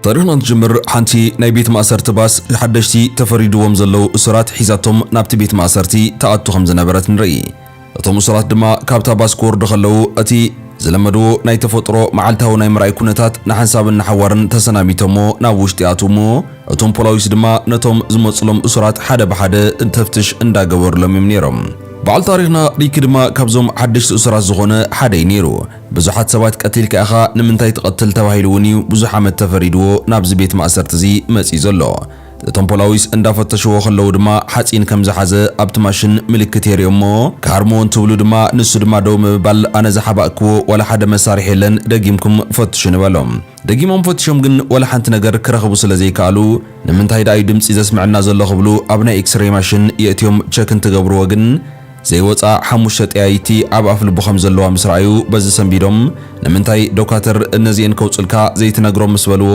ታሪኽና እንትጅምር ሓንቲ ናይ ቤት ማእሰርቲ ባስ ንሓደሽቲ ተፈሪድዎም ዘለዉ እሱራት ሒዛቶም ናብቲ ቤት ማእሰርቲ ትኣቱ ከም ዝነበረት ንርኢ። እቶም እሱራት ድማ ካብታ ባስ ክወርዱ ከለዉ እቲ ዝለመድዎ ናይ ተፈጥሮ መዓልታዊ ናይ ምርኣይ ኩነታት ንሓንሳብን ንሓዋርን ተሰናቢቶሞ ናብ ውሽጢ ይኣትዉ እሞ እቶም ፖላዊስ ድማ ነቶም ዝመጹሎም እሱራት ሓደ ብሓደ ተፍትሽ እንዳገበሩሎም እዮም ነይሮም። በዓል ታሪኽና ሪኪ ድማ ካብዞም ሓደሽቲ እሱራት ዝኾነ ሓደ እዩ ነይሩ። ብዙሓት ሰባት ቀቲልካ ኢኻ ንምንታይ ትቐትል ተባሂሉ እውን እዩ ብዙሕ ዓመት ተፈሪድዎ ናብዚ ቤት ማእሰርቲ እዚ መፂኡ ዘሎ። እቶም ፖላዊስ እንዳፈተሽዎ ከለዉ ድማ ሓፂን ከም ዝሓዘ ኣብቲ ማሽን ምልክት የርእዮም እሞ ክሃርምዎ እንትብሉ ድማ ንሱ ድማ ደው ምብባል ኣነ ዝሓባእክዎ ዋላ ሓደ መሳርሒ የለን ደጊምኩም ፈትሹኒ በሎም። ደጊሞም ፈቲሾም ግን ወላ ሓንቲ ነገር ክረኽቡ ስለ ዘይከኣሉ ንምንታይ ደኣዩ ድምጺ ዘስመዐና ዘሎ ክብሉ ኣብ ናይ ኤክስረይ ማሽን የእትዮም ቸክ እንትገብርዎ ግን ዘይወጽኣ ሓሙሽተ ጠያይቲ ኣብ ኣፍልቡ ከም ዘለዋ ምስ ረኣዩ በዚ ሰንቢዶም ንምንታይ ዶካተር እነዚኤን ከውጹልካ ዘይትነግሮም ምስ በልዎ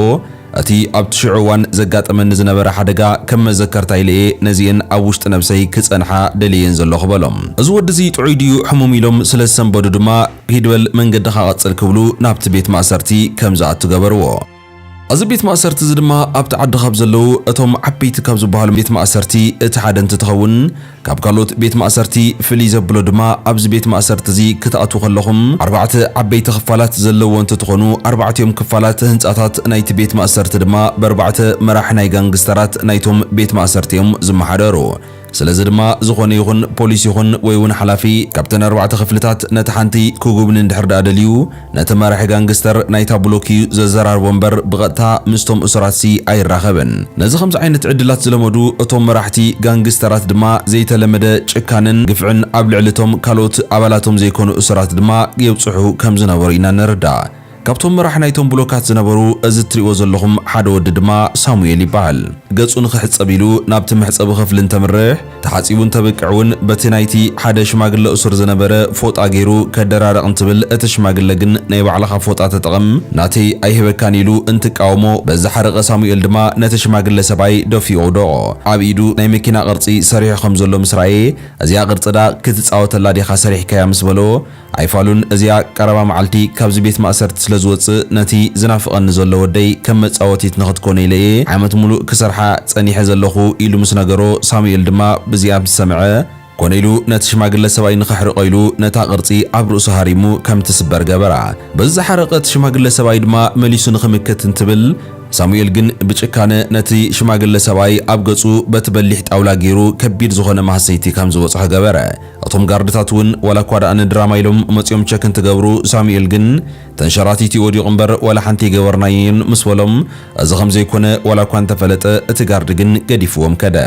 እቲ ኣብቲ ሽዑ እዋን ዘጋጠመኒ ዝነበረ ሓደጋ ከም መዘከርታ ኢለ'የ ነዚኤን ኣብ ውሽጢ ነብሰይ ክጸንሓ ደልየየን ዘለኹ በሎም። እዚ ወዲ'ዚ ጥዑይ ድዩ ሕሙም ኢሎም ስለ ዝሰንበዱ ድማ፣ ሂድ በል መንገድኻ ቀጽል ክብሉ ናብቲ ቤት ማእሰርቲ ከም ዝኣቱ ገበርዎ። እዚ ቤት ማእሰርቲ እዚ ድማ ኣብቲ ዓዲ ካብ ዘለዉ እቶም ዓበይቲ ካብ ዝበሃሉ ቤት ማእሰርቲ እቲ ሓደ እንትትኸውን ካብ ካልኦት ቤት ማእሰርቲ ፍልይ ዘብሎ ድማ ኣብዚ ቤት ማእሰርቲ እዚ ክትኣትዉ ከለኹም ኣርባዕተ ዓበይቲ ክፋላት ዘለዎ እንትትኾኑ ኣርባዕቲኦም ክፋላት ህንጻታት ናይቲ ቤት ማእሰርቲ ድማ በርባዕተ መራሒ ናይ ጋንግስተራት ናይቶም ቤት ማእሰርቲ እዮም ዝመሓደሩ። ስለዚ ድማ ዝኾነ ይኹን ፖሊስ ይኹን ወይ ውን ሓላፊ ካብተን ኣርባዕተ ክፍልታት ነቲ ሓንቲ ክጉብኒ እንድሕር ድኣ ደልዩ ነቲ መራሒ ጋንግስተር ናይታ ብሎክ እዩ ዘዘራርቦ እምበር ብቐጥታ ምስቶም እሱራትሲ ኣይራኸብን። ነዚ ከምዚ ዓይነት ዕድላት ዝለመዱ እቶም መራሕቲ ጋንግስተራት ድማ ዘይተለመደ ጭካነን ግፍዕን ኣብ ልዕሊ እቶም ካልኦት ኣባላቶም ዘይኮኑ እሱራት ድማ የብጽሑ ከም ዝነበሩ ኢና ንርዳእ። ካብቶም መራሕ ናይቶም ብሎካት ዝነበሩ እዚ እትሪእዎ ዘለኹም ሓደ ወዲ ድማ ሳሙኤል ይበሃል። ገጹ ንኽሕጸብ ኢሉ ናብቲ መሕጸቢ ክፍሊ እንተምርሕ፣ ተሓጺቡ እንተብቅዕ እውን በቲ ናይቲ ሓደ ሽማግለ እሱር ዝነበረ ፎጣ ገይሩ ከደራርቕ እንትብል እቲ ሽማግለ ግን ናይ ባዕልኻ ፎጣ ተጠቐም ናተይ ኣይህበካን ኢሉ እንትቃወሞ በዚ ሓረቐ ሳሙኤል ድማ ነቲ ሽማግለ ሰብኣይ ደፊኡ ኣውደቖ። ኣብ ኢዱ ናይ መኪና ቅርጺ ሰሪሑ ከም ዘሎ ምስ ረኣየ እዚኣ ቅርጺ ድኣ ክትጻወተላ ዲኻ ሰሪሕካያ ምስ በሎ ኣይፋሉን እዚኣ ቀረባ መዓልቲ ካብዚ ቤት ማእሰርቲ ስለ ዝወጽእ ነቲ ዝናፍቐኒ ዘሎ ወደይ ከም መጻወቲት ንኽትኮኖ ኢለ እየ ዓመት ሙሉእ ክሰርሓ ጸኒሐ ዘለኹ ኢሉ ምስ ነገሮ ሳሙኤል ድማ ብዚኣ ምስ ሰምዐ ኮነ ኢሉ ነቲ ሽማግለ ሰብኣይ ንኸሕርቆ ኢሉ ነታ ቅርጺ ኣብ ርእሱ ሃሪሙ ከም ትስበር ገበራ በዚ ዝሓረቐ እቲ ሽማግለ ሰብኣይ ድማ መሊሱ ንኽምክት እንትብል ሳሙኤል ግን ብጭካነ ነቲ ሽማግለ ሰብኣይ ኣብ ገጹ በቲ በሊሕ ጣውላ ጌሩ ከቢድ ዝኾነ ማህሰይቲ ከም ዝበጽሖ ገበረ እቶም ጋርድታት ውን ዋላ እኳ ደኣ ንድራማ ኢሎም መጽዮም ቸክ እንትገብሩ ሳሙኤል ግን ተንሸራቲቱ ዩ ወዲቁ እምበር ዋላ ሓንቲ ኣይገበርናዮን ምስ በሎም እዚ ከም ዘይኮነ ዋላ እኳ እንተፈለጠ እቲ ጋርድ ግን ገዲፍዎም ከደ።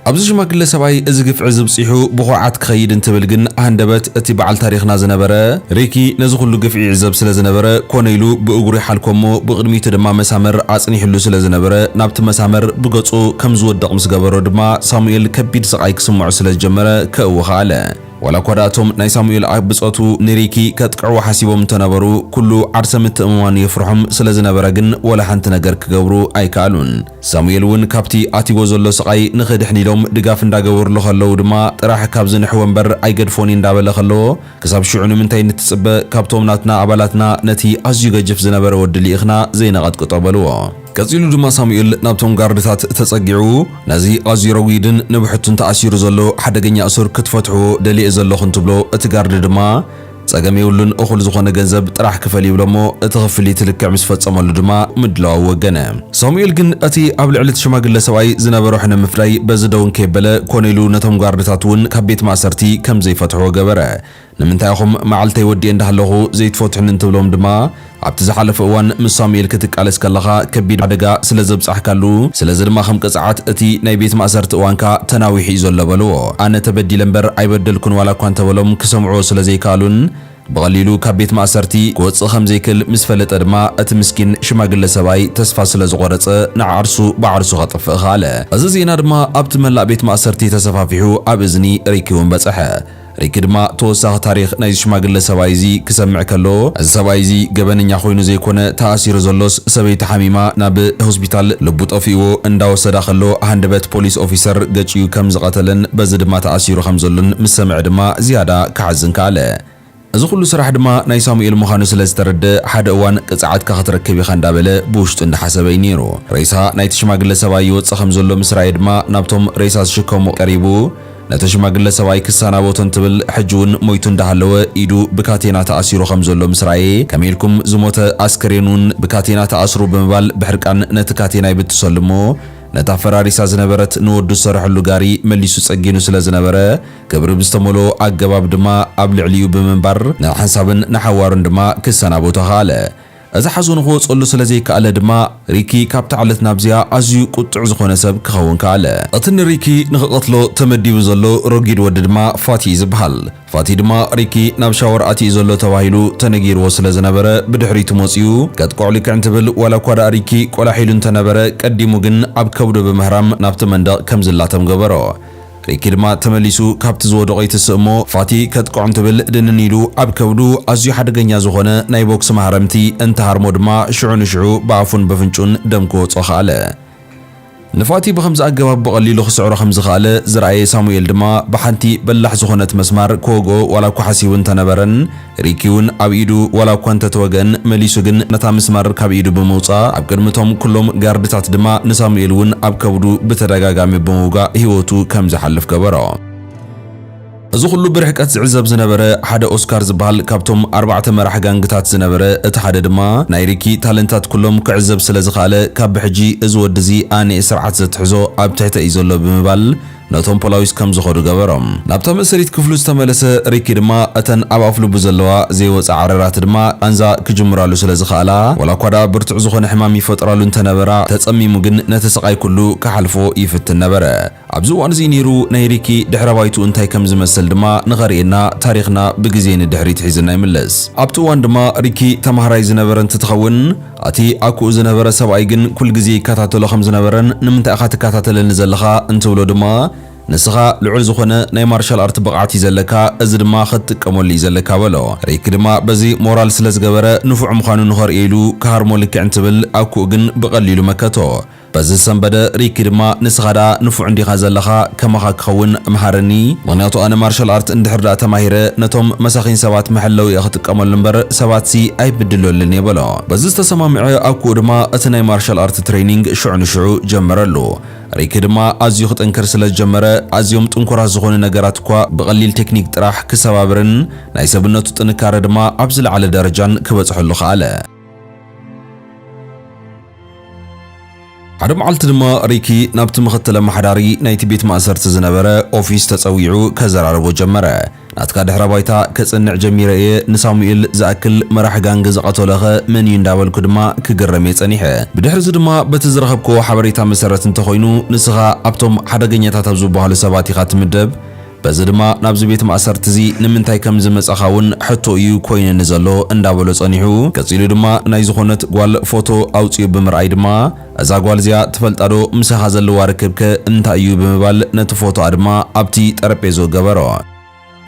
ኣብዚ ሽማግለ ሰብኣይ እዚ ግፍዒ እዚ ብጺሑ ብኩርዓት ክኸይድ እንትብል ግን ሃንደበት እቲ በዓል ታሪኽና ዝነበረ ሪኪ ነዚ ኩሉ ግፍዒ ይዕዘብ ስለ ዝነበረ ኮነ ኢሉ ብእግሩ ይሓልኮ እሞ ብቅድሚቱ ድማ መሳመር ኣጽኒሕሉ ስለ ዝነበረ ናብቲ መሳመር ብገጹ ከም ዝወድቅ ምስ ገበሮ ድማ ሳሙኤል ከቢድ ስቃይ ክስምዖ ስለ ዝጀመረ ከእዊ ከኣለ። ዋላ እኳ ደኣ እቶም ናይ ሳሙኤል ኣብ ብጾቱ ንሪኪ ከጥቅዕዋ ሓሲቦም እንተ ነበሩ፣ ኩሉ ዓርሰ ምትእምማኑ የፍርሖም ስለ ዝነበረ ግን ዋላ ሓንቲ ነገር ክገብሩ ኣይከኣሉን። ሳሙኤል እውን ካብቲ ኣትይዎ ዘሎ ስቓይ ንኽድሕን ኢሎም ድጋፍ እንዳገበርሉ ከለዉ ድማ ጥራሕ ካብዚ ንሕወ እምበር ኣይገድፎን'የ እንዳበለ ከሎ፣ ክሳብ ሽዑ ንምንታይ ንትጽበ ካብቶም ናትና ኣባላትና ነቲ ኣዝዩ ገጅፍ ዝነበረ ወዲ ሊኢኽና ዘይነቐጥቅጦ በልዎ። ቀጺሉ ድማ ሳሙኤል ናብቶም ጋርድታት ተጸጊዑ ነዚ ኣዝዩ ረጒድን ንብሕቱን ተኣሲሩ ዘሎ ሓደገኛ እሱር ክትፈትሕዎ ደልየ ዘለኹ እንትብሎ እቲ ጋርድ ድማ ጸገም የብሉን እኹል ዝኾነ ገንዘብ ጥራሕ ክፈል ይብሎሞ እቲ ክፍሊት ልክዕ ምስ ፈጸመሉ ድማ ምድላዉ ወገነ። ሳሙኤል ግን እቲ ኣብ ልዕሊ እቲ ሽማግለ ሰብኣይ ዝነበሮ ሕነ ምፍዳይ በዚ ደው እንከየበለ ኮነ ኢሉ ነቶም ጋርድታት እውን ካብ ቤት ማእሰርቲ ከም ዘይፈትሕዎ ገበረ። ንምንታይ ኢኹም መዓልተይ ወዲኤ እንዳሃለኹ ዘይትፈትሑኒ እንትብሎም ድማ ኣብቲ ዝሓለፈ እዋን ምስ ሳሙኤል ክትቃለስ ከለኻ ከቢድ ሓደጋ ስለ ዘብጻሕካሉ ስለዚ ድማ ከም ቅጽዓት እቲ ናይ ቤት ማእሰርቲ እዋንካ ተናዊሑ እዩ ዘሎ በልዎ። ኣነ ተበዲለ እምበር ኣይበደልኩን ዋላ እኳ እንተበሎም ክሰምዕዎ ስለ ዘይከኣሉን ብቐሊሉ ካብ ቤት ማእሰርቲ ክወጽእ ከም ዘይክእል ምስ ፈለጠ ድማ እቲ ምስኪን ሽማግለ ሰብኣይ ተስፋ ስለ ዝቖረጸ ንዓርሱ ብዓርሱ ከጥፍእ ከኣለ። እዚ ዜና ድማ ኣብቲ መላእ ቤት ማእሰርቲ ተሰፋፊሑ ኣብ እዝኒ ሪኪ እውን በጸሐ። ሪኪ ድማ ተወሳኺ ታሪኽ ናይዚ ሽማግለ ሰብኣይ እዚ ክሰምዕ ከሎ እዚ ሰብኣይ እዚ ገበነኛ ኮይኑ ዘይኮነ ተኣሲሩ ዘሎስ ሰበይቱ ሓሚማ ናብ ሆስፒታል ልቡ ጠፊእዎ እንዳወሰዳ ከሎ ሃንደበት ፖሊስ ኦፊሰር ገጭዩ ከም ዝቐተለን በዚ ድማ ተኣሲሩ ከም ዘሎን ምስ ሰምዐ ድማ ዝያዳ ክሓዝን ከኣለ። ነበረ። እዚ ኹሉ ስራሕ ድማ ናይ ሳሙኤል ምዃኑ ስለ ዝተረድኣ፣ ሓደ እዋን ቅጽዓትካ ክትረክብ ኢኻ እንዳበለ ብውሽጡ እንዳሓሰበ እዩ ነይሩ። ሬሳ ናይቲ ሽማግለ ሰብኣይ ይወጽእ ከም ዘሎ ምስ ረኣየ ድማ ናብቶም ሬሳ ዝሽከሙ ቀሪቡ ነቲ ሽማግለ ሰብኣይ ክሰናበቶ እንትብል ሕጂ ውን ሞይቱ እንዳሃለወ ኢዱ ብካቴና ተኣሲሩ ከም ዘሎ ምስ ረኣየ ከመይ ኢልኩም ዝሞተ ኣስከሬን ውን ብካቴና ትኣስሩ ብምባል ብሕርቃን ነቲ ካቴና ይብጥሰሉ እሞ ነታ ፈራሪሳ ዝነበረት ንወዱ ዝሰርሐሉ ጋሪ መሊሱ ጸጊኑ ስለ ዝነበረ ክብሪ ብዝተመልኦ ኣገባብ ድማ ኣብ ልዕሊኡ ብምንባር ንሓንሳብን ንሓዋሩን ድማ ክሰናበቶ ከኣለ። እዚ ሓዘኑ ክወጸሉ ስለ ዘይከኣለ ድማ ሪኪ ካብታ ዕለት ናብዚኣ ኣዝዩ ቁጡዕ ዝኾነ ሰብ ክኸውን ከኣለ። እቲ ንሪኪ ንክቐትሎ ተመዲቡ ዘሎ ረጒድ ወዲ ድማ ፋቲ'ዩ ዝብሃል። ፋቲ ድማ ሪኪ ናብ ሻወር ኣቲ'ዩ ዘሎ ተባሂሉ ተነጊርዎ ስለ ዝነበረ ብድሕሪቱ መጺኡ ከጥቅዖ ልክዕ እንትብል ዋላ እኳ ደኣ ሪኪ ቆላሕ ኢሉ እንተነበረ ቀዲሙ ግን ኣብ ከብዱ ብምህራም ናብቲ መንደቕ ከም ዝላተም ገበሮ። ሪኪ ድማ ተመሊሱ ካብቲ ዝወደቖ ይትስእ እሞ ፋቲ ከጥቅዖ እንትብል ድንን ኢሉ ኣብ ከብዱ ኣዝዩ ሓደገኛ ዝኾነ ናይ ቦክሲ ማህረምቲ እንትሃርሞ ድማ ሽዑ ንሽዑ ብኣፉን በፍንጭኡን ደም ክወጾ ከኣለ። ንፋቲ ብኸምዚ ኣገባብ ብቐሊሉ ክስዕሮ ከም ዝኸኣለ ዝረኣየ ሳሙኤል ድማ ብሓንቲ በላሕ ዝኾነት መስማር ክወግኦ ዋላ እኳ ሓሲቡ እንተነበረን፣ ሪኪ ውን ኣብ ኢዱ ዋላ እኳ እንተ ተወገን መሊሱ ግን ነታ ምስማር ካብ ኢዱ ብምውጻእ ኣብ ቅድሚ እቶም ኩሎም ጋርድታት ድማ ንሳሙኤል ውን ኣብ ከብዱ ብተደጋጋሚ ብምውጋእ ህይወቱ ከም ዝሓልፍ ገበሮ። እዚ ኩሉ ብርሕቀት ዝዕዘብ ዝነበረ ሓደ ኦስካር ዝበሃል ካብቶም ኣርባዕተ መራሕ ጋንግታት ዝነበረ እቲ ሓደ ድማ ናይ ሪኪ ታለንታት ኩሎም ክዕዘብ ስለ ዝኸኣለ ካብ ብሕጂ እዚ ወዲ እዚ ኣኔ ስርዓት ዘትሕዞ ኣብ ትሕተይ እዩ ዘሎ ብምባል ነቶም ፖላዊስ ከም ዝኸዱ ገበሮም። ናብቶም እስሪት ክፍሉ ዝተመለሰ ሪኪ ድማ እተን ኣብ ኣፍልቡ ዘለዋ ዘይወጻ ዓረራት ድማ ቃንዛ ክጅምራሉ ስለ ዝኸኣላ ዋላ እኳ ድኣ ብርቱዕ ዝኾነ ሕማም ይፈጥራሉ እንተ ነበራ ተጸሚሙ ግን ነቲ ስቓይ ኩሉ ክሓልፎ ይፍትን ነበረ። ኣብዚ እዋን እዚ ነይሩ ናይ ሪኪ ድሕረ ባይትኡ እንታይ ከም ዝመስል ድማ ንኸርእየና ታሪኽና ብግዜ ንድሕሪት ሒዝና ይምለስ። ኣብቲ እዋን ድማ ሪኪ ተማሃራይ ዝነበረ እንትትኸውን፣ ኣቲ ኣኩኡ ዝነበረ ሰብኣይ ግን ኩል ግዜ ይከታተሎ ከም ዝነበረን ንምንታይ ኢኻ ትከታተለኒ ዘለኻ እንትብሎ ድማ ንስኻ ልዑል ዝኾነ ናይ ማርሻል ኣርት ብቕዓት እዩ ዘለካ እዚ ድማ ከትጥቀመሉ እዩ ዘለካ በሎ። ሪኪ ድማ በዚ ሞራል ስለ ዝገበረ ንፉዕ ምዃኑ ንኸርእዮ ኢሉ ክሃርሞ ልክዕ እንትብል ኣኩኡ ግን ብቐሊሉ መከቶ። በዚ ዝሰንበደ ሪኪ ድማ ንስኻ ደኣ ንፉዕ እንዲኻ ዘለኻ ከማኻ ክኸውን ምሃረኒ ምኽንያቱ ኣነ ማርሻል ኣርት እንድሕር ደኣ ተማሂረ ነቶም መሳኺን ሰባት መሐለዊ እየ ክጥቀመሉ እምበር ሰባትሲ ኣይብድለሉን እየ በሎ በዚ ዝተሰማምዐ ኣኩኡ ድማ እቲ ናይ ማርሻል ኣርት ትሬኒንግ ሽዑ ንሽዑ ጀመረሉ ሪኪ ድማ ኣዝዩ ክጥንክር ስለ ዝጀመረ ኣዝዮም ጥንኩራት ዝኾኑ ነገራት እኳ ብቐሊል ቴክኒክ ጥራሕ ክሰባብርን ናይ ሰብነቱ ጥንካረ ድማ ኣብ ዝለዓለ ደረጃን ክበጽሐሉ ከኣለ። ሓደ መዓልቲ ድማ ሪኪ ናብቲ ምኽትል ኣመሓዳሪ ናይቲ ቤት ማእሰርቲ ዝነበረ ኦፊስ ተጸዊዑ ከዘራርቦ ጀመረ። ናትካ ድሕረ ባይታ ከጽንዕ ጀሚረ እየ፣ ንሳሙኤል ዝኣክል መራሒ ጋንግ ዝቐተሎኸ መን እዩ እንዳበልኩ ድማ ክግረም እየ ጸኒሐ። ብድሕርዚ ድማ በቲ ዝረኸብክዎ ሓበሬታ መሰረት እንተኾይኑ ንስኻ ኣብቶም ሓደገኛታት ኣብ ዝበሃሉ ሰባት ኢኻ ትምደብ፣ በዚ ድማ ናብዚ ቤት ማእሰርቲ እዚ ንምንታይ ከም ዝመጻኻ እውን ሕቶ እዩ ኮይነኒ ዘሎ እንዳበሎ ጸኒሑ ቀጺሉ ድማ ናይ ዝኾነት ጓል ፎቶ ኣውጺኡ ብምርኣይ ድማ እዛ ጓል እዚኣ ትፈልጣ ዶ ምሳኻ ዘለዋ ርክብ ከ እንታይ እዩ ብምባል ነቲ ፎቶኣ ድማ ኣብቲ ጠረጴዝኡ ገበሮ።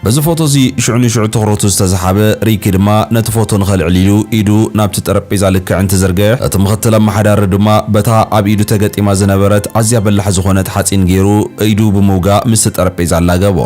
በዚ ፎቶ እዚ ሽዑ ንሽዑ ትኹረቱ ዝተሰሓበ ሪኪ ድማ ነቲ ፎቶ ንኸልዕል ኢሉ ኢዱ ናብቲ ጠረጴዛ ልክዕ እንትዝርግሕ እቲ ምኽትል ኣማሓዳሪ ድማ በታ ኣብ ኢዱ ተገጢማ ዝነበረት ኣዝያ በላሕ ዝኾነት ሓጺን ጌሩ ኢዱ ብምውጋእ ምስቲ ጠረጴዛ ኣላገቦ።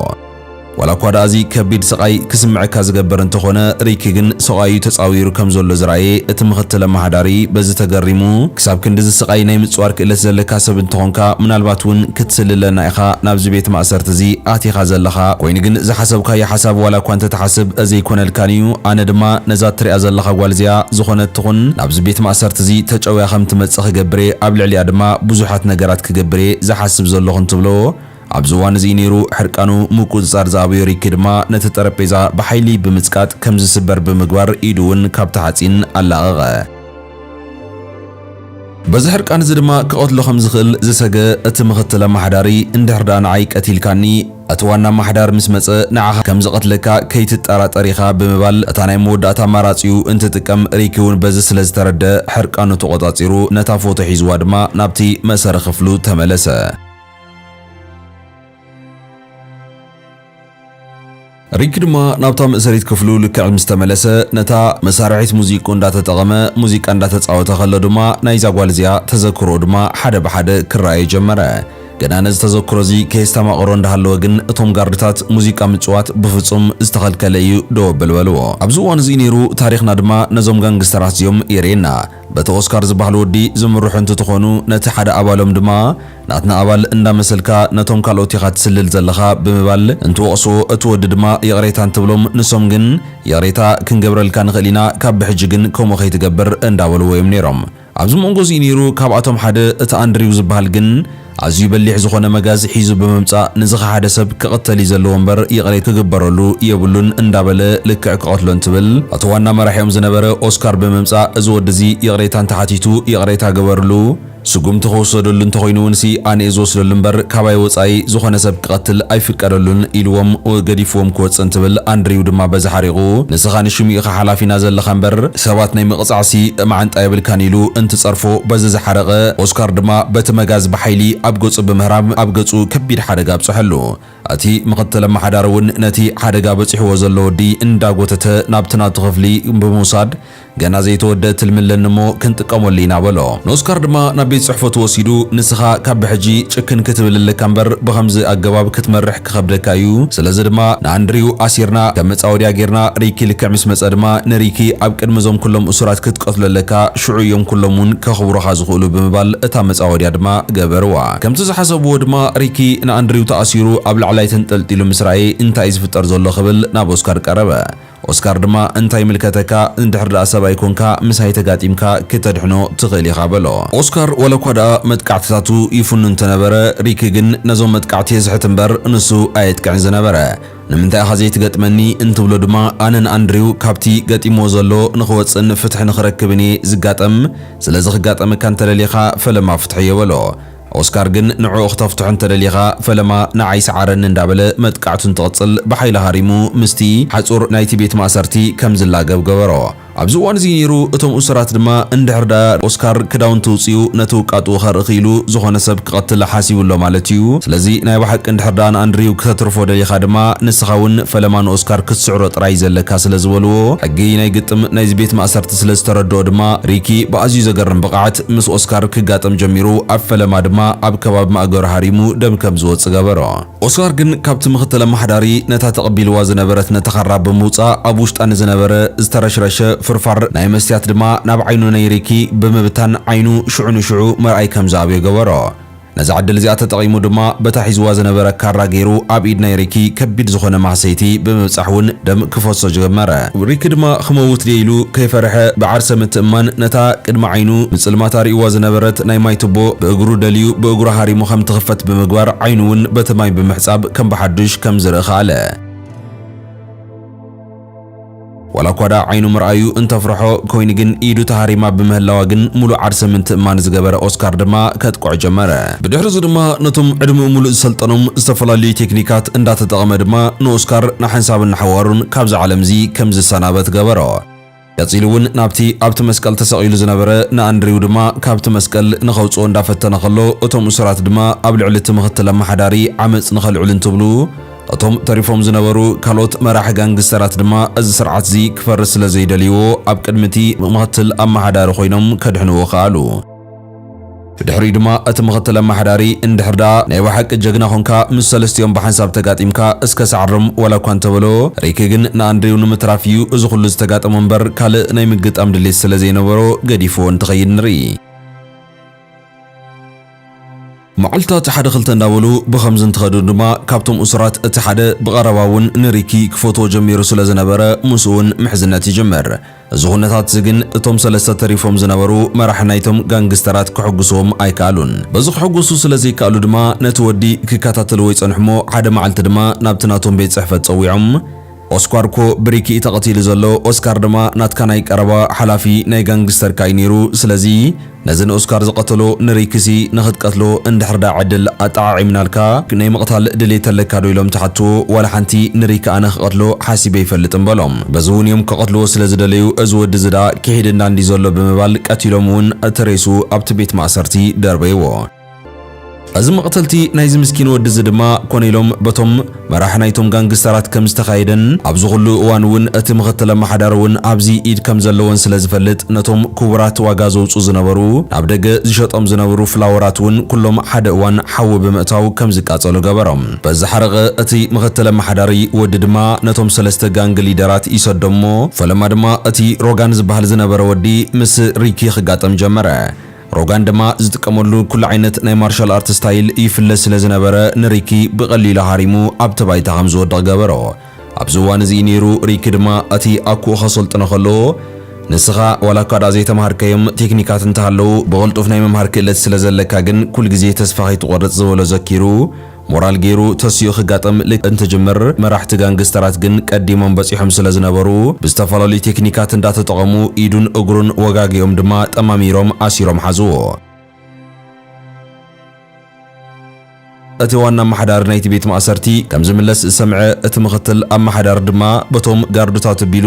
ዋላኳ ደኣ እዚ ከቢድ ስቓይ ክስምዐካ ዝገብር እንተኾነ፣ ሪኪ ግን ሰቋዩ ተጻዊሩ ከም ዘሎ ዝረኣየ እቲ ምኽትል ኣመሓዳሪ በዚ ተገሪሙ፣ ክሳብ ክንድዚ ስቓይ ናይ ምጽዋር ክእለት ዘለካ ሰብ እንተኾንካ ምናልባት እውን ክትስልለና ኢኻ ናብዚ ቤት ማእሰርቲ እዚ ኣቲኻ ዘለኻ፣ ኮይኑ ግን ዝሓሰብካዮ ሓሳብ ዋላኳ እንተትሓስብ ዘይኮነልካን እዩ፣ ኣነ ድማ ነዛ እትሪኣ ዘለኻ ጓል እዚኣ ዝኾነት ትኹን ናብዚ ቤት ማእሰርቲ እዚ ተጨውያ ከም ትመጽእ ክገብር እየ፣ ኣብ ልዕሊኣ ድማ ብዙሓት ነገራት ክገብር እየ ዝሓስብ ዘለኹ እንትብሎ፣ ኣብዚ እዋን እዚ እዩ ነይሩ ሕርቃኑ፣ ምቁጽጻር ዝኣበዮ ሪኪ ድማ ነቲ ጠረጴዛ ብሓይሊ ብምጽቃጥ ከም ዝስበር ብምግባር ኢዱ እውን ካብቲ ሓጺን ኣላቐቐ። በዚ ሕርቃን እዚ ድማ ክቐትሎ ከም ዝኽእል ዝሰገ እቲ ምኽትል ኣማሓዳሪ፣ እንድሕር ደኣ ንዓይ ቀቲልካኒ፣ እቲ ዋና ኣማሓዳር ምስ መጸ ንዓኻ ከም ዝቐትለካ ከይትጠራጠር ኢኻ ብምባል እታ ናይ መወዳእታ ኣማራጺኡ እንትጥቀም ሪኪ እውን በዚ ስለ ዝተረድኣ ሕርቃኑ ተቖጻጺሩ ነታ ፎቶ ሒዝዋ ድማ ናብቲ መእሰሪ ክፍሉ ተመለሰ። ሪኪ ድማ ናብታ መእሰሪት ክፍሉ ልክዕ ምስ ተመለሰ ነታ መሳርሒት ሙዚቅኡ እንዳተጠቐመ ሙዚቃ እንዳተጻወተ ከሎ ድማ ናይዛ ጓል እዚኣ ተዘክሮኡ ድማ ሓደ ብሓደ ክረኣዮ ጀመረ። ግና ነዚ ተዘክሮ እዚ ከየስታማቐሮ እንዳሃለወ ግን እቶም ጋርድታት ሙዚቃ ምጽዋት ብፍጹም ዝተኸልከለ እዩ ደው ኣብል በልዎ። ኣብዚ እዋን እዚ እዩ ነይሩ ታሪኽና ድማ ነዞም ጋንግስተራት እዚኦም የርእየና። በቲ ኦስካር ዝበሃል ወዲ ዝምርሑ እንትትኾኑ ነቲ ሓደ ኣባሎም ድማ ናትና ኣባል እንዳመሰልካ ነቶም ካልኦት ኢኻ ትስልል ዘለኻ ብምባል እንትወቕስዎ እቲ ወዲ ድማ ይቕሬታ እንትብሎም ንሶም ግን ይቕሬታ ክንገብረልካ ንኽእል ኢና ካብ ብሕጂ ግን ከምኡ ከይትገብር እንዳበልዎ እዮም ነይሮም። ኣብዚ መንጎ'ዚ ነይሩ፣ ካብኣቶም ሓደ እቲ ኣንድሪው ዝበሃል ግን ኣዝዩ በሊሕ ዝኾነ መጋዝ ሒዙ ብምምጻእ ንዝኸሓደ ሰብ ክቕተል እዩ ዘለዎ እምበር ይቕሬ ክግበረሉ የብሉን እንዳበለ ልክዕ ክቐትሎ እንትብል ኣቲ ዋና መራሒኦም ዝነበረ ኦስካር ብምምጻእ እዚ ወዲ'ዚ ይቕሬታ እንተሓቲቱ ይቕሬታ ግበርሉ ስጉምቲ ክውሰደሉ እንተኾይኑ እውን'ሲ ኣነ'የ ዝወስደሉ እምበር ካባይ ወጻኢ ዝኾነ ሰብ ክቐትል ኣይፍቀደሉን ኢልዎም ገዲፍዎም ክወጽእ እንትብል ኣንድሪው ድማ በዚ ሓሪቑ ንስኻ ንሽሙ ኢኻ ሓላፊና ዘለኻ እምበር ሰባት ናይ ምቕጻዕሲ መዓንጣ የብልካን ኢሉ እንትጸርፎ በዚ ዝሓረቐ ኦስካር ድማ በቲ መጋዝ ብሓይሊ ኣብ ገጹ ብምህራም ኣብ ገጹ ከቢድ ሓደጋ ኣብጸሐሉ። እቲ ምኽትል ኣመሓዳሪ እውን ነቲ ሓደጋ በጺሕዎ ዘሎ ወዲ እንዳጎተተ ናብቲ ናቱ ክፍሊ ብምውሳድ ገና ዘይተወድአ ትልሚ ኣለኒ እሞ ክንጥቀመሉ ኢና በሎ። ንኦስካር ድማ ናብ ቤት ጽሕፈቱ ወሲዱ ንስኻ ካብ ብሕጂ ጭክን ክትብል ኣለካ እምበር ብኸምዚ ኣገባብ ክትመርሕ ክኸብደካ እዩ። ስለዚ ድማ ንኣንድሪው ኣሲርና ከም መጻወድያ ጌርና ሪኪ ልክዕ ምስ መጸ ድማ ንሪኪ ኣብ ቅድሚ እዞም ኩሎም እሱራት ክትቀትሎ ኣለካ ሽዑ እዮም ኩሎም እውን ከኽብሩኻ ዝኽእሉ ብምባል እታ መጻወድያ ድማ ገበርዋ። ከምቲ ዝሓሰብዎ ድማ ሪኪ ንኣንድሪው ተኣሲሩ ኣብ ላዕላይ ተንጠልጢሉ ምስ ረኣየ እንታይ እዩ ዝፍጠር ዘሎ ክብል ናብ ኦስካር ቀረበ። ኦስካር ድማ እንታይ ይምልከተካ እንድሕር ድኣ ሰብኣይ ኮንካ ምስ ሃይ ተጋጢምካ ክተድሕኖ ትኽእል ኢኻ በሎ። ኦስካር ዋላኳ ድኣ መጥቃዕትታቱ ይፍኑ እንተነበረ ሪኪ ግን ነዞም መጥቃዕቲ የዝሕት እምበር ንሱ ኣየጥቅዕን ዝነበረ። ንምንታይ ኢኻ ዘይትገጥመኒ እንትብሎ ድማ ኣነ ንኣንድሪው ካብቲ ገጢምዎ ዘሎ ንኽወጽእን ፍትሒ ንኽረክብን እየ ዝጋጠም ስለዚ ክጋጠመካ እንተደሊኻ ፈለማ ፍትሐዮ በሎ። ኦስካር ግን ንዕኡ ክተፍትሖ እንተደሊኻ ፈለማ ንዓይ ስዓረኒ እንዳበለ መጥቃዕቱ እንትቕጽል ብሓይሊ ሃሪሙ ምስቲ ሓጹር ናይቲ ቤት ማእሰርቲ ከም ዝላገብ ገበሮ። ኣብዚ እዋን እዚ ነይሩ እቶም እሱራት ድማ እንድሕር ድኣ ኦስካር ክዳውንቲ ኣውጺኡ ነቲ ውቃጡኡ ከርኢ ክኢሉ ዝኾነ ሰብ ክቐትል ሓሲቡ ኣሎ ማለት እዩ። ስለዚ ናይ ብሓቂ እንድሕር ድኣ ንኣንድሪው ክተትርፎ ደሊኻ ድማ ንስኻ እውን ፈለማ ንኦስካር ክትስዕሮ ጥራይ እዩ ዘለካ ስለ ዝበልዎ ሕጊ ናይ ግጥም ናይዚ ቤት ማእሰርቲ ስለ ዝተረድኦ ድማ ሪኪ ብኣዝዩ ዘገርም ብቕዓት ምስ ኦስካር ክጋጠም ጀሚሩ፣ ኣብ ፈለማ ድማ ኣብ ከባቢ ማእገሩ ሃሪሙ ደም ከም ዝወጽእ ገበሮ። ኦስካር ግን ካብቲ ምኽትል ኣመሓዳሪ ነታ ተቐቢልዋ ዝነበረት ነተኻራ ብምውጻእ ኣብ ውሽጣ ንዝነበረ ዝተረሽረሸ ፍርፋር ናይ መስትያት ድማ ናብ ዓይኑ ነይ ሪኪ ብምብታን ዓይኑ ሽዑ ንሽዑ ምርኣይ ከም ዝኣብዮ ገበሮ። ነዛ ዕድል እዚኣ ተጠቒሙ ድማ በታ ሒዝዋ ዝነበረ ካራ ገይሩ ኣብ ኢድ ናይ ሪኪ ከቢድ ዝኾነ ማህሰይቲ ብምብጻሕ እውን ደም ክፈሶ ጀመረ። ሪኪ ድማ ክመውት ድየ ኢሉ ከይፈርሐ ብዓርሰ ምትእምማን ነታ ቅድሚ ዓይኑ ብጽልማት ኣርእይዋ ዝነበረት ናይ ማይ ቱቦ ብእግሩ ደልዩ ብእግሩ ሃሪሙ ከም ትኽፈት ብምግባር ዓይኑ እውን በቲ ማይ ብምሕጻብ ከም ብሓዱሽ ከም ዝርኢ ከኣለ። ዋላ እኳ ደኣ ዓይኑ ምርኣዩ እንተፍርሖ ኮይኒ ግን ኢዱ ተሃሪማ ብምህላዋ ግን ሙሉእ ዓርሰ ምንትእማን ዝገበረ ኦስካር ድማ ከጥቅዖ ጀመረ። ብድሕሪ እዚ ድማ ነቶም ዕድመኡ ሙሉእ ዝሰልጠኖም ዝተፈላለዩ ቴክኒካት እንዳተጠቐመ ድማ ንኦስካር ንሓንሳብን ንሓዋሩን ካብዚ ዓለም እዚ ከም ዝሰናበት ገበሮ። ቀጺሉ እውን ናብቲ ኣብቲ መስቀል ተሰቒሉ ዝነበረ ንኣንድሪው ድማ ካብቲ መስቀል ንኸውጽኦ እንዳፈተነ ከሎ እቶም እሱራት ድማ ኣብ ልዕሊ እቲ ምኽትል ኣማሓዳሪ ዓመጽ ንኸልዕሉ እንትብሉ እቶም ተሪፎም ዝነበሩ ካልኦት መራሒ ጋንግስተራት ድማ እዚ ስርዓት'ዚ ክፈርስ ስለ ዘይደልይዎ ኣብ ቅድሚ'ቲ ምክትል ኣመሓዳሪ ኮይኖም ከድሕንዎ ከኣሉ። ብድሕሪኡ ድማ እቲ ምክትል ኣመሓዳሪ እንድሕር ደኣ ናይ ብሓቂ ጀግና ኮንካ ምስ ሰለስቲኦም ብሓንሳብ ተጋጢምካ እስከ ሳዕርም ዋላ እኳ እንተበሎ፣ ሪኪ ግን ንኣንድሪው ንምትራፍ እዩ እዚ ኩሉ ዝተጋጠሞ እምበር ካልእ ናይ ምግጣም ድሌት ስለ ዘይነበሮ ገዲፍዎ እንትኸይድ ንርኢ። መዓልታት ሓደ ክልተ እንዳበሉ ብኸምዚ እንትኸዱ ድማ ካብቶም እሱራት እቲ ሓደ ብቐረባ እውን ንሪኪ ክፈትዎ ጀሚሩ ስለ ዝነበረ ምስኡ እውን ምሕዝነት ይጅምር። እዚ ኩነታት እዚ ግን እቶም ሰለስተ ተሪፎም ዝነበሩ መራሒ ናይቶም ጋንግስተራት ከሐጉስዎም ኣይከኣሉን። በዚ ክሕጎሱ ስለ ዘይከኣሉ ድማ ነቲ ወዲ ክከታተልዎ ይጸንሑ'ሞ ሓደ መዓልቲ ድማ ናብቲ ናቶም ቤት ጽሕፈት ጸዊዖም፣ ኦስኳር እኮ ብሪክ እዩ ተቀቲሉ ዘሎ ኦስካር ድማ ናትካ ናይ ቀረባ ሓላፊ ናይ ጋንግስተርካ እዩ ነይሩ ስለዚ ነዚ ንኦስካር ዝቀተሎ ንሪክሲ ንክትቀትሎ እንድሕርዳ ዕድል ኣጠዓዒምናልካ ናይ ምቅታል ድሌት ኣለካ ዶ ኢሎም ተሓትዎ ዋላ ሓንቲ ንሪክ ኣነ ክቀትሎ ሓሲበ ኣይፈልጥን በሎም በዚ እውን እዮም ክቀትልዎ ስለ ዝደለዩ እዚ ወዲ እዚ ድኣ ክሒድና እንድዩ ዘሎ ብምባል ቀቲሎም እውን እቲ ሬሱ ኣብቲ ቤት ማእሰርቲ ደርበይዎ እዚ መቕተልቲ ናይዚ ምስኪን ወዲ እዚ ድማ ኮነ ኢሎም በቶም መራሒ ናይቶም ጋንግስተራት ከም ዝተኻየደን ኣብዚ ኩሉ እዋን እውን እቲ ምኽትል ኣመሓዳሪ እውን ኣብዚ ኢድ ከም ዘለወን ስለ ዝፈልጥ ነቶም ክቡራት ዋጋ ዘውፅኡ ዝነበሩ ናብ ደገ ዝሸጦም ዝነብሩ ፍላወራት እውን ኩሎም ሓደ እዋን ሓዊ ብምእታው ከም ዝቃፀሉ ገበሮም። በዚ ሓረቐ እቲ ምኽትል ኣመሓዳሪ ወዲ ድማ ነቶም ሰለስተ ጋንግ ሊደራት ይሰዶም እሞ ፈለማ ድማ እቲ ሮጋን ዝበሃል ዝነበረ ወዲ ምስ ሪኪ ክጋጠም ጀመረ። ሮጋን ድማ ዝጥቀመሉ ኩሉ ዓይነት ናይ ማርሻል ኣርት ስታይል ይፍለጥ ስለ ዝነበረ ንሪኪ ብቐሊሉ ሃሪሙ ኣብቲ ባይታ ከም ዝወድቕ ገበሮ። ኣብዚ እዋን እዚ እዩ ነይሩ ሪኪ ድማ እቲ ኣኩኡ ከሰልጥኖ ከሎ ንስኻ ዋላ እኳ ድኣ ዘይተማሃርካዮም ቴክኒካት እንተሃለዉ ብቕልጡፍ ናይ ምምሃር ክእለት ስለ ዘለካ ግን ኩልግዜ ተስፋ ከይትቖርጽ ዝበሎ ዘኪሩ ሞራል ገይሩ ተሲኡ ክጋጠም ልክዕ እንትጅምር፣ መራሕቲ ጋንግስተራት ግን ቀዲሞም በጺሖም ስለ ዝነበሩ፣ ብዝተፈላለዩ ቴክኒካት እንዳተጠቐሙ ኢዱን እግሩን ወጋጊኦም ድማ ጠማሚሮም ኣሲሮም ሓዝዎ። እቲ ዋና ኣማሓዳሪ ናይቲ ቤት ማእሰርቲ ከም ዝምለስ ዝሰምዐ እቲ ምኽትል ኣማሓዳሪ ድማ በቶም ጋርዱታት ኣቢሉ፣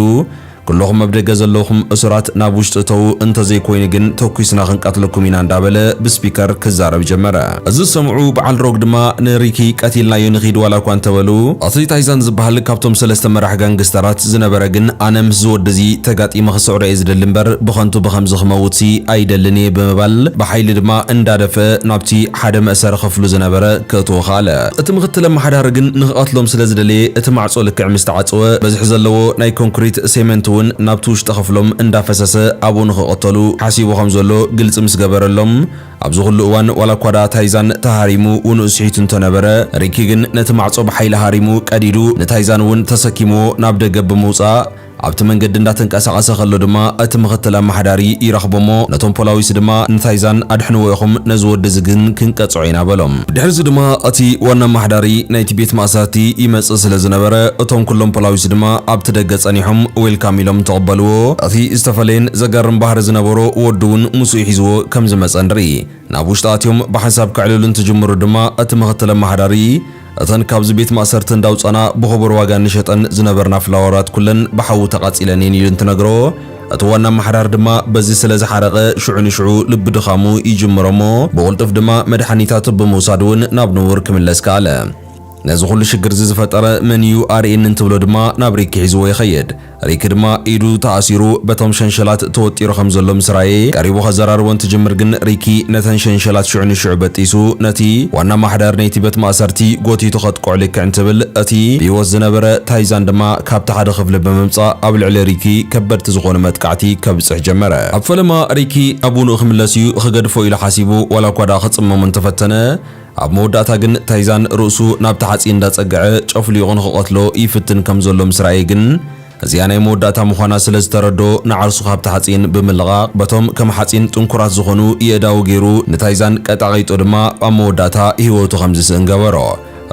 ኩሉኹም ኣብ ደገ ዘለኹም እሱራት ናብ ውሽጢ እተዉ እንተዘይኮይኑ ግን ተኲስና ክንቀትለኩም ኢና እንዳበለ ብስፒከር ክዛረብ ጀመረ። እዚ ዝሰምዑ በዓል ሮግ ድማ ንሪኪ ቀቲልናዮ ንኺድ ዋላኳ እንተበሉ እቲ ታይዛን ዝበሃል ካብቶም ሰለስተ መራሕ ጋንግስተራት ዝነበረ ግን ኣነ ምስዚ ወዲ እዚ ተጋጢመ ክስዕሮ እየ ዝደሊ እምበር ብኸንቱ ብኸምዚ ክመውትሲ ኣይደልን እየ ብምባል ብሓይሊ ድማ እንዳደፍአ ናብቲ ሓደ መእሰሪ ክፍሉ ዝነበረ ከእትዎ ከኣለ። እቲ ምኽትል ኣመሓዳሪ ግን ንክቐትሎም ስለ ዝደለየ እቲ ማዕጾ ልክዕ ምስ ተዓጸወ በዝሒ ዘለዎ ናይ ኮንክሪት፣ ሴመንት፣ እውን ናብቲ ውሽጢ ክፍሎም እንዳፈሰሰ ኣብኡ ንክቐተሉ ሓሲቡ ከም ዘሎ ግልጺ ምስ ገበረሎም ኣብዚ ኩሉ እዋን ዋላ እኳ ደኣ ታይዛን ተሃሪሙ ውንኡ ስሒቱ እንተ ነበረ ሪኪ ግን ነቲ ማዕጾ ብሓይሊ ሃሪሙ ቀዲዱ ንታይዛን እውን ተሰኪምዎ ናብ ደገ ብምውጻእ ኣብቲ መንገዲ እንዳተንቀሳቐሰ ከሎ ድማ እቲ ምኽትል ኣማሓዳሪ ይረኽቦ'ሞ ነቶም ፖላዊስ ድማ ንታይዛን ኣድሕንዎ ኢኹም ነዚ ወዲ እዚ ግን ክንቀጽዖ ኢና በሎም። ድሕሪዚ ድማ እቲ ዋና ኣማሓዳሪ ናይቲ ቤት ማእሰርቲ ይመጽእ ስለ ዝነበረ እቶም ኩሎም ፖላዊስ ድማ ኣብቲ ደገ ጸኒሖም ዌልካም ኢሎም ተቐበልዎ። እቲ ዝተፈለየን ዘገርም ባህሪ ዝነበሮ ወዱ ውን ምስኡ ሒዝዎ ከም ዝመጸ ንርኢ። ናብ ውሽጢ ኣትዮም ብሓንሳብ ከዕልሉ እንትጅምሩ ድማ እቲ ምኽትል ኣማሓዳሪ እተን ካብዚ ቤት ማእሰርቲ እንዳውጻና ብኽቡር ዋጋ እንሸጠን ዝነበርና ፍላወራት ኩለን ብሓዊ ተቓጺለን እየን ኢሉ እንትነግሮ፣ እቲ ዋና ኣመሓዳሪ ድማ በዚ ስለ ዝሓረቐ ሽዑ ንሽዑ ልቢ ድኻሙ ይጅምሮ እሞ ብቕልጡፍ ድማ መድሓኒታቱ ብምውሳድ እውን ናብ ንቡር ክምለስ ከኣለ። ነዚ ኩሉ ሽግርዚ ዝፈጠረ መን እዩ ኣርእየኒ እንትብሎ ድማ ናብ ሪኪ ሒዝዎ ይኸይድ። ሪኪ ድማ ኢዱ ተኣሲሩ በቶም ሸንሸላት ተወጢሩ ከም ዘሎ ምስ ራኤ ቀሪቡ ከዘራርቦ እንትጅምር ግን ሪኪ ነተን ሸንሸላት ሽዑ ንሽዑ በጢሱ ነቲ ዋና ኣማሓዳሪ ነይቲ በት ማእሰርቲ ጎቲቱ ከጥቅዑ ልክዕ እንትብል እቲ ብሂወት ዝነበረ ታይዛን ድማ ካብቲ ሓደ ክፍሊ ብምምጻእ ኣብ ልዕሊ ሪኪ ከበድቲ ዝኾኑ መጥቃዕቲ ከብጽሕ ጀመረ። ኣብ ፈለማ ሪኪ ናብ ውኑኡ ክምለስ እዩ ክገድፎ ኢሉ ሓሲቡ ዋላ እኳ ድኣ ክጽመሞ እንተፈተነ፣ ኣብ መወዳእታ ግን ታይዛን ርእሱ ናብቲ ሓጺን እንዳጸግዐ ጨፍሊቑ ንኽቐትሎ ይፍትን ከም ዘሎ ምስ ረኣየ ግን እዚኣ ናይ መወዳእታ ምዃና ስለ ዝተረድኦ ንዓርሱ ካብቲ ሓጺን ብምልቓቕ በቶም ከም ሓጺን ጥንኩራት ዝኾኑ የእዳዉ ጌሩ ንታይዛን ቀጣቒጡ ድማ ኣብ መወዳእታ ህይወቱ ከም ዝስእን ገበሮ።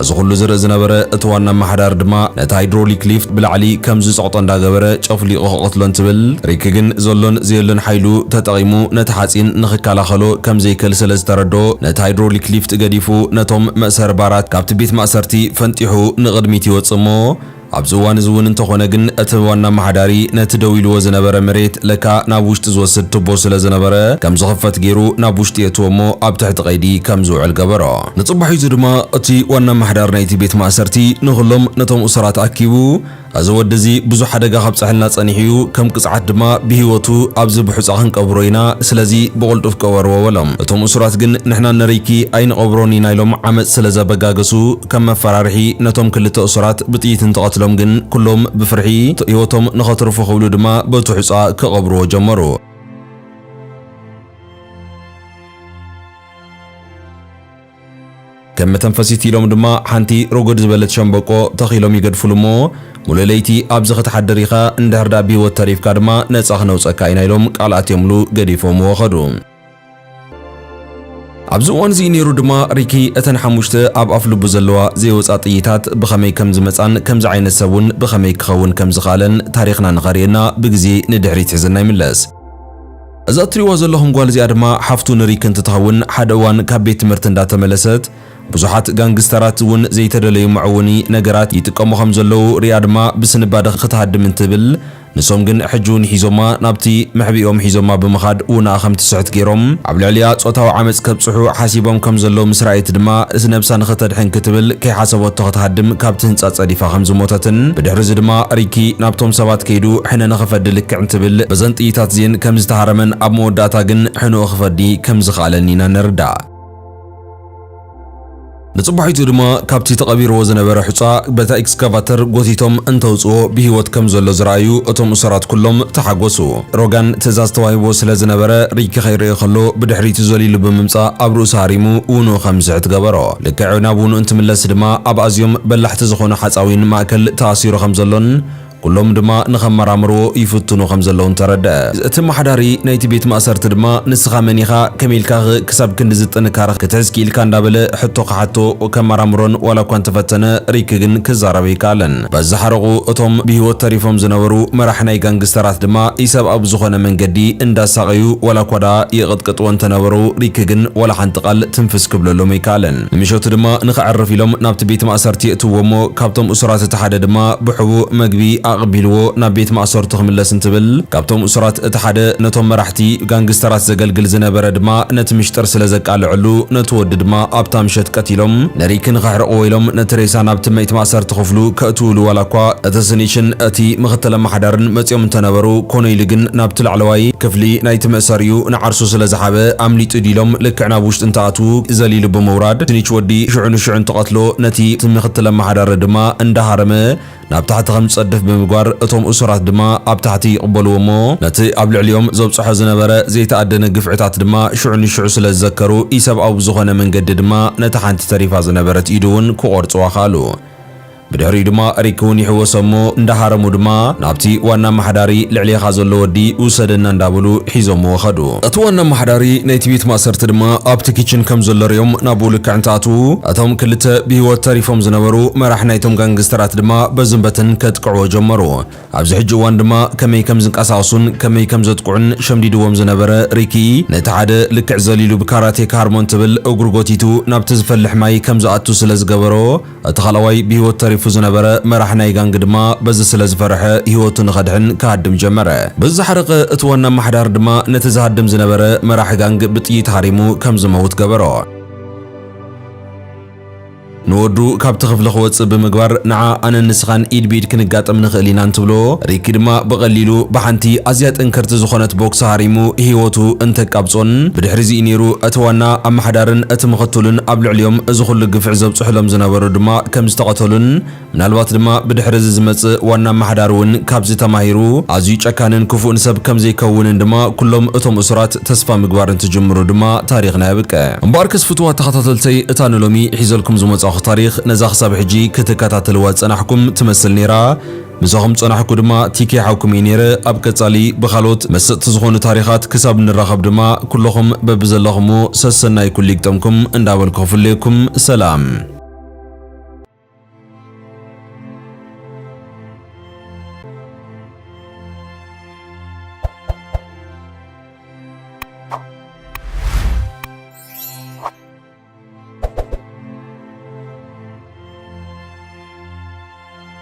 እዚ ኹሉ ዝርኢ ዝነበረ እቲ ዋና ኣመሓዳሪ ድማ ነቲ ሃይድሮሊክ ሊፍት ብላዕሊ ከም ዝጸቕጦ እንዳገበረ ጨፍሊቑ ክቐትሎ እንትብል ሪክ ግን ዘሎን ዘየሎን ሓይሉ ተጠቒሙ ነቲ ሓጺን ንኽከላኸሎ ከም ዘይክእል ስለ ዝተረድኦ እቲ ሃይድሮሊክ ሊፍት ገዲፉ ነቶም መእሰሪ ባራት ካብቲ ቤት ማእሰርቲ ፈንጢሑ ንቕድሚት ይወጽእ እሞ ኣብዚ እዋን እዚ እውን እንተኾነ ግን እቲ ዋና ኣመሓዳሪ ነቲ ደው ኢልዎ ዝነበረ መሬት ለካ ናብ ውሽጢ ዝወስድ ቱቦ ስለ ዝነበረ ከም ዝኽፈት ገይሩ ናብ ውሽጢ የእትዎ እሞ ኣብ ትሕቲ ቀይዲ ከም ዝውዕል ገበሮ። ንጽባሒቱ ድማ እቲ ዋና ኣመሓዳሪ ናይቲ ቤት ማእሰርቲ ንኹሎም ነቶም እሱራት ኣኪቡ እዚ ወዲ እዚ ብዙሕ ሓደጋ ከብጸሐልና ጸኒሑ እዩ፣ ከም ቅጽዓት ድማ ብህይወቱ ኣብዚ ብሑጻ ክንቀብሮ ኢና፣ ስለዚ ብቕልጡፍ ቅበርዎ በሎም። እቶም እሱራት ግን ንሕና እነርይኪ ኣይንቐብሮን ኢና ኢሎም ዓመጽ ስለ ዘበጋገሱ ከም መፈራርሒ ነቶም ክልተ እሱራት ብጥይት እንትቐትሎም ግን ኩሎም ብፍርሒ ህይወቶም ንኸትርፉ ክብሉ ድማ በቲ ሑጻ ክቐብርዎ ጀመሩ። ከም መተንፈሲት ኢሎም ድማ ሓንቲ ሮጎድ ዝበለት ሸምበቆ ተኺሎም ይገድፍሉ እሞ ሙሉእ ለይቲ ኣብዚ ክትሓድር ኢኻ እንድሕር ድኣ ብሂወት ተሪፍካ ድማ ነጻ ክነውጸካ ኢና ኢሎም ቃል ኣትዮምሉ ገዲፎምዎ ከዱ። ኣብዚ እዋን እዚ ነይሩ ድማ ሪኪ እተን ሓሙሽተ ኣብ ኣፍ ልቡ ዘለዋ ዘይወጻ ጥይታት ብኸመይ ከም ዝመጻን ከምዚ ዓይነት ሰብ እውን ብኸመይ ክኸውን ከም ዝኸኣለን ታሪኽና ንኸርእየና ብግዜ ንድሕሪት ሒዝና ይምለስ። እዛ እትሪእዋ ዘለኹም ጓል እዚኣ ድማ ሓፍቱ ንሪክ እንትትኸውን ሓደ እዋን ካብ ቤት ትምህርቲ እንዳተመለሰት ብዙሓት ጋንግስተራት እውን ዘይተደለዩ መዕውኒ ነገራት ይጥቀሙ ከም ዘለዉ ሪኣ ድማ ብስንባደ ክትሃድም እንትብል ንሶም ግን ሕጂ እውን ሒዞማ ናብቲ መሕብኢኦም ሒዞማ ብምኻድ ውናኣ ከም ትስሕት ገይሮም ኣብ ልዕሊኣ ጾታዊ ዓመጽ ከብጽሑ ሓሲቦም ከም ዘለዉ ምስ ረኣየት ድማ ነብሳ ንኽተድሕን ክትብል ከይሓሰበቶ ክትሃድም ካብቲ ህንጻ ጸዲፋ ከም ዝሞተትን ብድሕሪ እዚ ድማ ሪኪ ናብቶም ሰባት ከይዱ ሕነ ንኽፈዲ እንትብል በዘን ጥይታት እዚኤን ከም ዝተሃረመን ኣብ መወዳእታ ግን ሕንኡ ክፈዲ ከም ዝኸኣለን ኢና ንርዳእ። ንጽባሒቱ ድማ ካብቲ ተቐቢርዎ ዝነበረ ሑጻ በታ ኤክስካቫተር ጎቲቶም እንተውጽዎ ብህይወት ከም ዘሎ ዝረኣዩ እቶም እሱራት ኩሎም ተሓጎሱ። ሮጋን ትእዛዝ ተዋሂብዎ ስለ ዝነበረ ሪኪ ከይርእዮ ከሎ ብድሕሪቱ ዘሊሉ ብምምጻእ ኣብ ርእሱ ሃሪሙ ውንኡ ከም ዝስሕት ገበሮ። ልክዕ ናብ ውንኡ እንትምለስ ድማ ኣብ ኣዝዮም በላሕቲ ዝኾኑ ሓጻዊን ማእከል ተኣሲሩ ከም ዘሎን ኩሎም ድማ ንኸመራምርዎ ይፍትኑ ከም ዘለዉን ተረድኣ። እቲ ኣማሓዳሪ ናይቲ ቤት ማእሰርቲ ድማ ንስኻ መን ኢኻ ከመይ ኢልካኸ ክሳብ ክንድዚ ጥንካረ ክትሕዝ ክኢልካ እንዳበለ ሕቶ ክሓቶ ከመራምሮን ዋላ እኳ እንተፈተነ ሪክ ግን ክዛረብ ኣይከኣለን። በዚ ሓረቑ እቶም ብህይወት ተሪፎም ዝነበሩ መራሒ ናይ ጋንግስተራት ድማ ኢሰብኣዊ ብዝኾነ መንገዲ እንዳሳቐዩ ዋላ እኳ ደኣ ይቕጥቅጥዎ እንተነበሩ ሪክ ግን ዋላ ሓንቲ ቃል ትንፍስ ክብለሎም ኣይከኣለን። ንምሸቱ ድማ ንኸዕርፍ ኢሎም ናብቲ ቤት ማእሰርቲ የእትውዎ እሞ ካብቶም እሱራት እቲ ሓደ ድማ ብሕቡእ መግቢ ኣቐቢልዎ ናብ ቤት ማእሰርቱ ክምለስ እንትብል ካብቶም እሱራት እቲ ሓደ ነቶም መራሕቲ ጋንግስተራት ዘገልግል ዝነበረ ድማ ነቲ ምሽጥር ስለ ዘቃልዐሉ ነቲ ወዲ ድማ ኣብታ ምሸት ቀቲሎም ንሪኪ ንኸሕርቕዎ ኢሎም ነቲ ሬሳ ናብቲ መይት ማእሰርቲ ክፍሉ ከእትውሉ ዋላ እኳ እቲ ስኒሽን እቲ ምኽትል ኣማሓዳርን መጺኦም እንተነበሩ ኮነይሊ ግን ናብቲ ላዕለዋይ ክፍሊ ናይቲ መእሰሪኡ ንዓርሱ ስለ ዝሓበ ኣምሊጡ ድዩ ኢሎም ልክዕ ናብ ውሽጢ እንተ ቱግ ዘሊሉ ብምውራድ ድንች ወዲ ሽዑ ንሽዑ እንትቐትሎ ነቲ እቲ ምክትል ኣመሓዳሪ ድማ እንዳሃረመ ናብ ታሕቲ ከም ዝጸድፍ ብምግባር እቶም እሱራት ድማ ኣብ ታሕቲ ይቕበልዎ እሞ ነቲ ኣብ ልዕሊኦም ዘብጽሖ ዝነበረ ዘይተኣደነ ግፍዕታት ድማ ሽዑ ንሽዑ ስለ ዝዘከሩ ኢሰብኣዊ ብዝኾነ መንገዲ ድማ ነታ ሓንቲ ተሪፋ ዝነበረት ኢዱ እውን ክቖርጽዋ ከኣሉ። ብድሕሪኡ ድማ እሪክ እውን ይሕወሶም እሞ እንዳሃረሙ ድማ ናብቲ ዋና ኣማሓዳሪ ልዕሌኻ ዘሎ ወዲ ውሰደና እንዳበሉ ሒዞምዎ ከዱ። እቲ ዋና ኣማሓዳሪ ናይቲ ቤት ማእሰርቲ ድማ ኣብቲ ኪችን ከም ዘሎ ሪኦም ናብኡ ልክዕ እንትኣትዉ እቶም ክልተ ብህይወት ተሪፎም ዝነበሩ መራሕ ናይቶም ጋንግስተራት ድማ በዝን በትን ከጥቅዕዎ ጀመሩ። ኣብዚ ሕጂ እዋን ድማ ከመይ ከም ዝንቀሳቕሱን ከመይ ከም ዘጥቅዑን ሸምዲድዎም ዝነበረ ሪኪ ነቲ ሓደ ልክዕ ዘሊሉ ብካራቴ ክሃርሞ እንትብል እግሩ ጎቲቱ ናብቲ ዝፈልሕ ማይ ከም ዝኣቱ ስለ ዝገበሮ እቲ ካልኣዋይ ብህይወት ተሪፉ ዝነበረ መራሒ ናይ ጋንግ ድማ በዚ ስለ ዝፈረሐ ህይወቱ ንኸድሕን ክሃድም ጀመረ። በዚ ዝሓረቐ እቲ ዋና ኣማሓዳሪ ድማ ነቲ ዝሃድም ዝነበረ መራሒ ጋንግ ብጥይት ሃሪሙ ከም ዝመውት ገበሮ። ንወዱ ካብቲ ክፍሊ ክወጽእ ብምግባር ንዓ ኣነን ንስኻን ኢድ ብኢድ ክንጋጠም ንኽእል ኢና እንትብሎ፣ ሪኪ ድማ ብቐሊሉ ብሓንቲ ኣዝያ ጥንክርቲ ዝኾነት ቦክሲ ሃሪሙ ህይወቱ እንተቃብጾን ብድሕሪ'ዚ እዩ ነይሩ እቲ ዋና ኣማሓዳርን እቲ ምኽትሉን ኣብ ልዕሊኦም እዚ ኹሉ ግፍዒ ዝብጽሑሎም ዝነበሩ ድማ ከም ዝተቐተሉን ምናልባት ድማ ብድሕሪ እዚ ዝመጽእ ዋና ኣማሓዳሪ እውን ካብዚ ተማሂሩ ኣዝዩ ጨካንን ክፉእን ሰብ ከም ዘይከውንን ድማ ኩሎም እቶም እሱራት ተስፋ ምግባር እንትጅምሩ ድማ ታሪኽና የብቅዕ። እምበኣርከስ ፍቱዋት ተኸታተልተይ እታ ንሎሚ ሒዘልኩም ዝመጻኹ ታሪኽ ነዛ ክሳብ ሕጂ ክትከታተልዋ ዝጸናሕኩም ትመስል ነይራ። ምሳኹም ጸናሕኩ ድማ ቲኬ ሓውኩም እየ ኔረ ኣብ ቀጻሊ ብኻልኦት መሰጥቲ ዝኾኑ ታሪኻት ክሳብ ንራኸብ ድማ ኩሎኹም በብዘለኹምዎ ሰሰናይ ኩሉ ይግጠምኩም እንዳበልኩ ክፍለየኩም ሰላም።